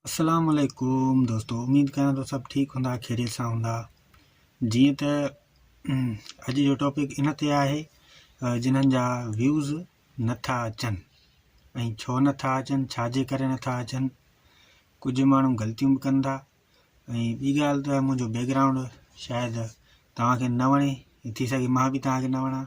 السلام عليڪم دوستو اميد ڪريان ٿو سڀ ٺيڪ هوندا خيريت سان هوندا جيئن ته اڄ جو ٽاپڪ ان تي آهي جنن جا ويوز نٿا اچن ۽ ڇو نٿا اچن ڇا جي ڪري نٿا اچن ڪجهه ماڻهو غلطيون به ڪن ٿا ۽ ٻي ڳالهه ته منهنجو بيڪگراؤنڊ شايد توهانکي نه وڻي ٿي سگهي مان به توهانکي نه وڻان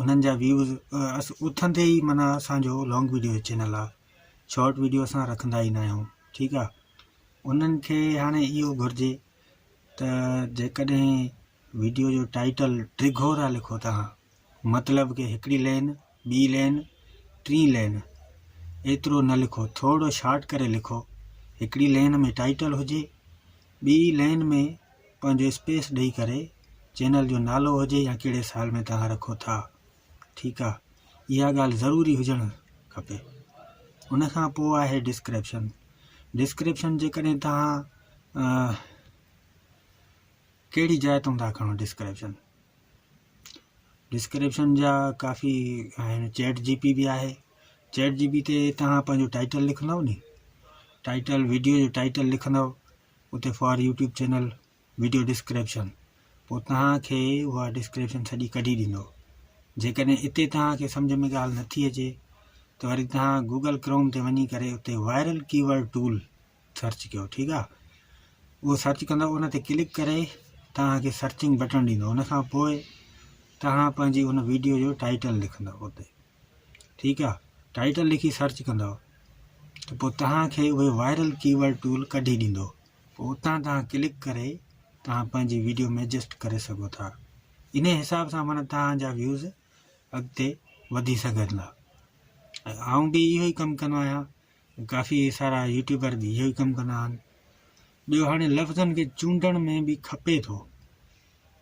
انهن جا ويوز اٿن تي ئي معنيٰ اسانجو لانگ ويڊيو جو چينل آ شارٽ ويڊيو اسان رکندا ئي ناهيون ٺيڪ آ انهن کي هاڻي اهو گهرجي ته جيڪڏهن ويڊيو جو ٽائيٽل ڊگهو ٿا لکو توهان مطلب ڪي هڪڙي لين ٻي لين ٽي لين ايترو نه لکو ٿورڙو شارٽ ڪري لکو هڪڙي لين ۾ ٽائيٽل هجي ٻي لين ۾ پنهنجو اسپيس ڏئي ڪري چينل جو نالو هجي يا ڪهڙي سال ۾ توهان رکو ٿا ٺيڪ آ اها ڳالهه ضروري هجڻ کپي ان کان پوء آهي ڊسڪرپشن ڊسڪرپشن جيڪڏهن توهان ڪهڙي جاء تون ٿا کڻو ڊسڪرپشن ڊسڪرپشن جا ڪافي آهن چيٽ جي پي بي آهي چيٽ جي پي تي توهان پنهنجو ٽائيٽل لکندو ني ٽائيٽل ويڊيو جو ٽائيٽل لکندو اتي for YouTube channel video description پوء توهانکي اها ڊسڪرپشن سڄي ڪڍي ڏيندو جيڪڏهن اتي توهانکي سمجھ ۾ ڳالهه نٿي اچي ته وري توهان گوگل ڪروم تي وڃي ڪري اتي وائرل ڪيورڊ ٽول سرچ ڪيو ٺيڪ آ اهو سرچ ڪندو ان تي ڪلڪ ڪري توهانکي سرچنگ بٽڻ ڏيندو ان کان پوء توهان پنهنجي ان ويڊيو جو ٽائيٽل لکندو اتي ٺيڪ آ ٽائٽل لکي سرچ ڪندو ته پوء توهان کي اهي وائرل ڪيورڊ ٽول ڪڍي ڏيندو پوء اتان توهان ڪلڪ ڪري توهان پنهنجي ويڊيو ۾ ايڊجسٽ ڪري سگهو ٿا ان حساب سان مانا توهان جا ويوز اڳتي وڌي سگهندا ۽ آئون به اهو ئي ڪم ڪندو آهيان ڪافي سارا يوٽيوبر به اهو ئي ڪم ڪندا آهن ٻيو هاڻي لفظن کي چونڊڻ ۾ به کپي ٿو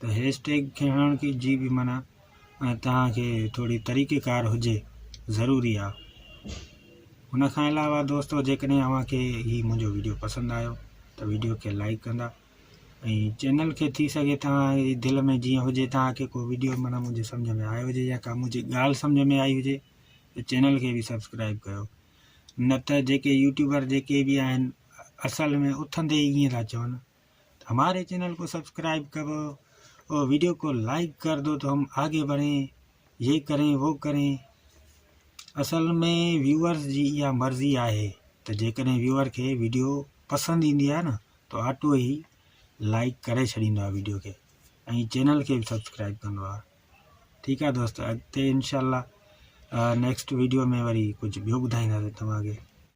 ته هيش ٽيگ کڻڻ کي جي به منع ۽ توهان کي ٿوري طريقي ڪار هجي ضروري آ ان کان علاوه دوستو جيڪڏهن اوهان کي هي منهنجو ويڊيو پسند آيو ته ويڊيو کي لائڪ ڪندا ۽ چينل کي ٿي سگهي توهان جي دل ۾ جيئن هجي توهان کي ڪو ويڊيو معنی منهنجي سمجھ ۾ آيو هجي يا ڪا منهنجي ڳالهه سمجھ ۾ آئي هجي ته چينل کي به سبسڪرائب ڪيو نه ته جيڪي يوٽيوبر جيڪي به آهن اصل ۾ اٿندي ئي ائين ٿا چون ھماري چينل ڪو سبسڪرائب ڪرو اور ويڊيو ڪو لائيڪ ڪر دو تو ھم آگي بڙھين يي ڪرين وو ڪرين اصل مي ويوئرس جي اھا مرضي آھي تو جيڪڏھن ويوئر کي ويڊيو پسند ايندي آھي ن تو آٽو ھي لائيڪ ڪري ڇڏيندو آھي ويڊيو کي ۽ چينل کي به سبسڪرائب ڪندو آھي ٺيڪ آھي دوست اڳتي انشاء الله نيڪسٽ ويڊيو ۾ وري ڪجھ ٻيو ٻڌائينداسين توھان کي